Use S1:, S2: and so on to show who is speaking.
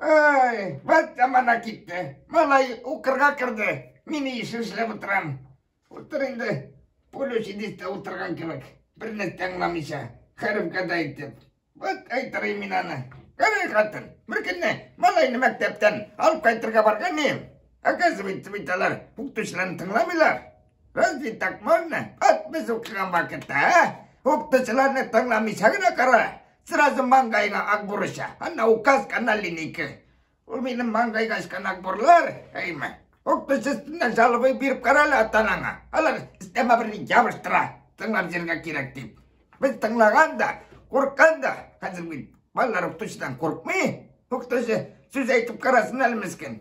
S1: Ай, вот замана китте. Малай укырга керде. Мин ишен эшләп утырам. Утыр инде. Пулючидистә утырган кебек. Берне тыңламыйча, хәрефкә дә әйтеп. Вот әйтере мин аны. Кәрәй хатын, бер көнне малайны мәктәптән алып кайтырга барган идем. Оказывается, бит алар укытучыларны тыңламыйлар. Разве так можно? От без укыган вакытта, а? Укытучыларны тыңламыйча гына кара. Сразу маңгайыңа ак бурыша. Ана указка на линейке. Ул минем маңгайга ачкан ак бурлар, әйме. Укытучы өстенә жалобы биреп кара әле атанаңа. Алар истәмә берни ябыштыра. Тыңлап җиргә кирәк дип. Без тыңлаган да, курккан да. Хәзер бит балалар укытучыдан куркмый. Укытучы сүз әйтеп карасын әле мескин.